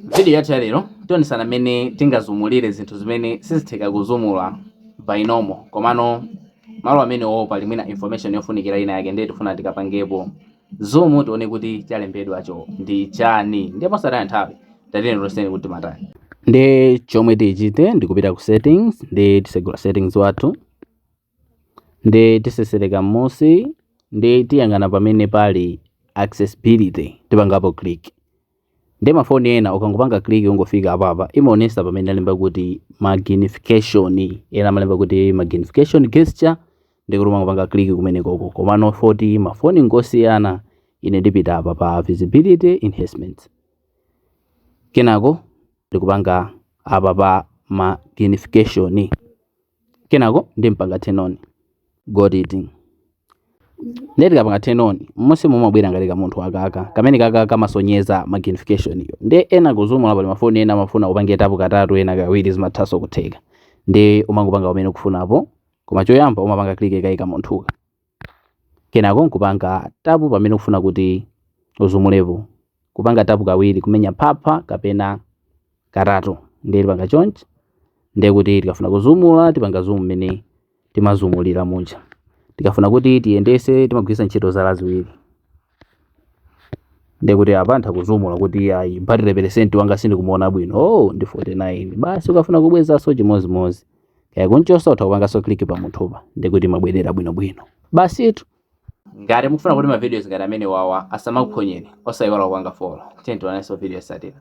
M'vidiyo yathu ya lero, tionetsana mmene tingazumire zinthu zimene sizitheka kuzuma by normal komano malo amenewo pali mwina information yofunikira ina yake ndiye tifuna tikapangepo zoom tione kuti chalembedwacho ndi chani ndiye posataya nthawi tatiyeni tionetsane kuti timatani ndiye chomwe tichite ndikupita ku settings ndiye tisegula settings wathu ndiye tisesereka m'musi ndiye tiyang'ana pamene pali accessibility tipangapo click ndiye mafoni ena ukangopanga click ungofika apapa imaonesa pamene alemba kuti magnification ena amalemba kuti magnification gesture ndiye kuti umangopanga click kumenekoko komano poti mafoni ngosiyana ine ndipita apa pa visibility enhancements kenako ndikupanga apa pa magnification Kenako ndimpanga turn on. Got it. Ndiye tikapanga turn on, mmusi mumabwera ngati kamunthu aka. Kameneka aka kamasonyeza magnification iyo. Ndiyeno kuzuma pali mafoni ena amafuna upange tapu katatu ena kawiri zimathanso kutheka. Ndiye umangopanga pamene ukufunapo. Koma choyamba umapanga click kaye kamunthuka. Kenako nkupanga tapu pamene ukufuna kuti uzumepo. Kupanga tapu kawiri kumenya phapha kapena katatu ndiye tipanga choncho ndiye kuti tikafuna kuzuma tipanga zoom mmene timazumira muja. Tikafuna kuti tiyendese timagwiritsa ntchito zala ziwiri. ndekuti apa nditha kuzuma kuti ayi batire peresenti wanga sindikumuona bwino oh ndi 49 basi ukafuna kubwezanso chimodzimodzi kaya kunchosa utha kupanganso kliki pa kamunthupa ndekuti imabwerera bwinobwino basitu ngati mukufuna kuti mavidiyo ngati amenewawa asamakuphonyeni osayiwala kupanga folo tiyeni tionanso vidiyo yosatira